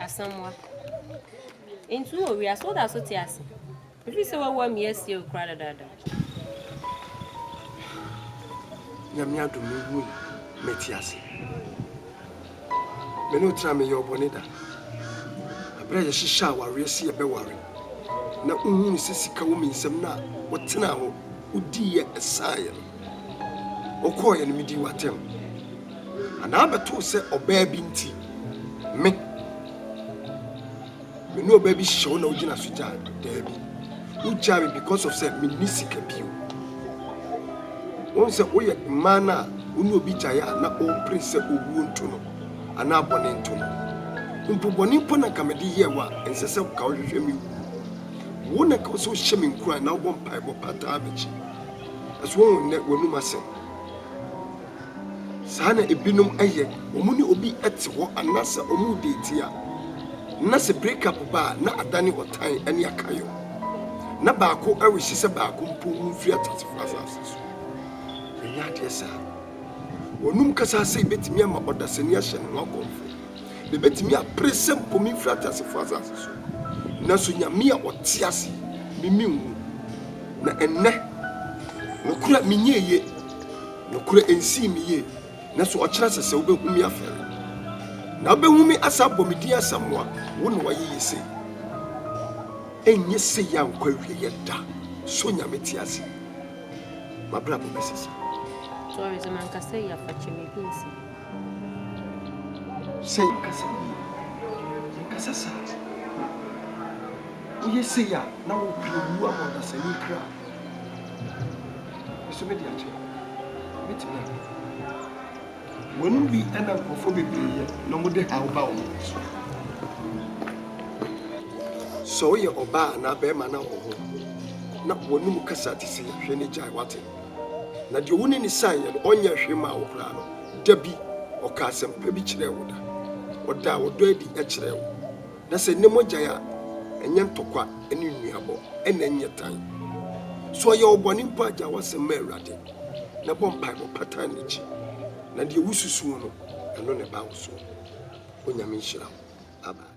Asamoah, nti wowɔ wiase, woda so te ase? Mefiri sɛ woawu a measi wo koraa dadaada. Nyame adom mehui mete ase. Me ne wo tena meyɛ ɔbɔne da. Ɛberɛ a yɛhyehyɛ awareɛ sɛ yɛbɛware na wohunu sɛ sika wɔ me nsam na wotenaa hɔ wodiiɛ ɛsaaeɛ no. Wokɔeɛ no medii w'atɛm anaa bɛtoo sɛ ɔbaa bi nti me. Me ne ɔbaa bi hyehyɛ hɔ na wogyina so gyaa? Daabi. Wogyaa me because of sɛ menni sika bio. Wohu sɛ woyɛ mmaa no a wo ne obi gyaeɛ a na worepere sɛ owuo nto no anaa bɔne nto no. Mpo bɔne mpo na nka mede yɛɛ wo a, ɛnsɛ sɛ nka wohwehwɛ me wuo. Wo na nka wɔ sɛ wohyɛ me nkuran na wobɔ mpaebɔ pataa m'akyi. So wohu nnɛ w'anom asɛm? Saa na ebinom yɛ, wɔne obi te hɔ anaasɛ wɔredeeti a, na sɛ breakup ba a, na adane ɔtan ne akayɔ. Ná baako rehye sɛ baako mpo wu mfi ateasefo asase so. Ɛnyɛ adeɛ saa. Wɔnom kasa ase yi betumi ama ɔdasani ahyɛ ne ho akɔmfo. Mebetumi apere sɛ mpo memfiri ateasefo asase so, nanso Nyame a ɔte ase me menwu. Na ɛnnɛ, nokorɛ a menyɛɛ ye. Nokorɛ ɛnsii me yie, nanso ɔkyerɛ sɛ sɛ wobɛhu me afɛre, na wobɛhu me asan abɔ me din asamoa, wo na woayeyɛ sei. Ɛnyɛ sei a nkwa awieɛ da, so Nyame te ase? M'abrabɔ bɛsesa. Sorry sɛ mankasa yie a, fa kyɛ me bi nsi. Sɛ yɛnkasa yie, yɛnkasa saa. Woyɛ sei a, na wopere wu ama ɔdasani kra. Nso me de akyɛ. Me te bɛn. Wɔnom bi ɛna nkurɔfoɔ bebree yɛ na wɔn de haw ba wɔn so. Sɛ ɔyɛ ɔbaa anaa bɛrima na ɔho na wɔnom kasa te sɛ hwɛ ne gyae wate. Na deɛ ɔne ne san yɛ no ɔnyɛ hwɛ maa wo koraa no da bi ɔka asɛm pa bi kyerɛɛ wo da. Ɔdaa ɔdɔ adi ɛkyerɛɛ wo. Na sɛ nne mogyae a, ɛnyɛ ntɔkwa ne nnuabɔ, ɛna ɛnyɛ tan. So ɔyɛ wo bɔne mpo a, gyae w'asɛm ma Awurade, na bɔ mpaebɔ pa tan n'akyi, na deɛ wosusu ho no, ɛno na ɛba wo soɔ. Onyame nhyira wo. Amen.